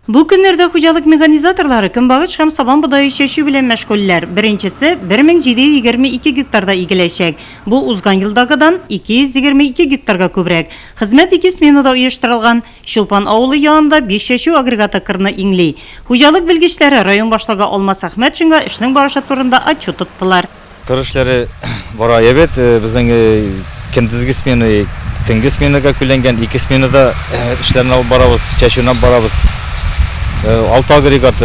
Бу көннәрдә хуҗалык механизаторлары көнбагыш һәм сабан бодае чәчү белән мәшгульләр. Беренчесе 1722 гектарда игеләчәк. Бу узган елдагыдан 222 гектарга күбрәк. Хезмәт ике сменада оештырылган. Чулпан авылы янында биш чәчү агрегаты кырны иңли. Хуҗалык белгечләре район башлыгы Алмас Әхмәтшинга эшнең барышы турында отчет тоттылар. Кыр эшләре бара әйбәт. Э, безнең э, көндезге смена, э, төнге сменага күләнгән. Ике сменада эшләрне алып барабыз, чәчүне алып барабыз. Алты агрегат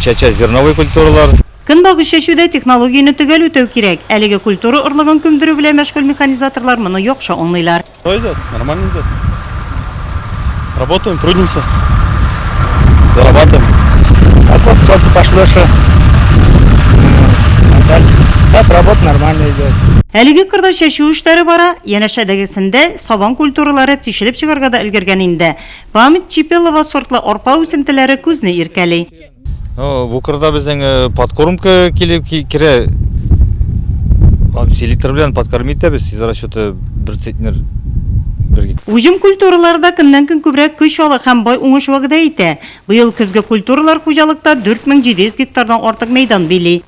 чәчә зерновый культуралар. Көнбагыш чәчүдә технологияне төгәл үтәү кирәк. Әлеге культура орлыгын күмдерү белән мәшгуль механизаторлар моны яхшы аңлыйлар. Что идет? Нормально идет. Работаем, трудимся. Зарабатываем. А вот что ты пошлешь? Так, работа нормально идет. Әлеге кырда чәчү эшләре бара, янәшәдәгесендә сабан культуралары тишелеп чыгарга да өлгергән инде. Память Чипелова сортлы арпа үсентеләре күзне иркәли. Ну, бу кырда безнең э, подкормка килеп керә. Һәм селитр белән подкорм итәбез. Сез расчеты бер центнер бергә. Уҗым культуралары да көннән-көн күбрәк көч ала һәм бай уңыш вәгъдә итә. Быел көзге культуралар хуҗалыкта 4700 гектардан артык мәйдан били.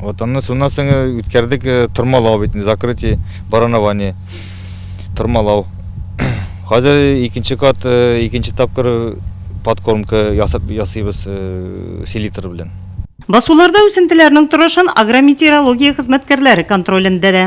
Вот анны шуннан соң э, үткәрдек э, тырмалау бит, закрытие, баранование. Тырмалау. Хәзер икенче кат, э, икенче тапкыр подкормка ясап ясыйбыз селитр белән. Басуларда үсентеләрнең торышын агрометеорология хезмәткәрләре контролендә дә.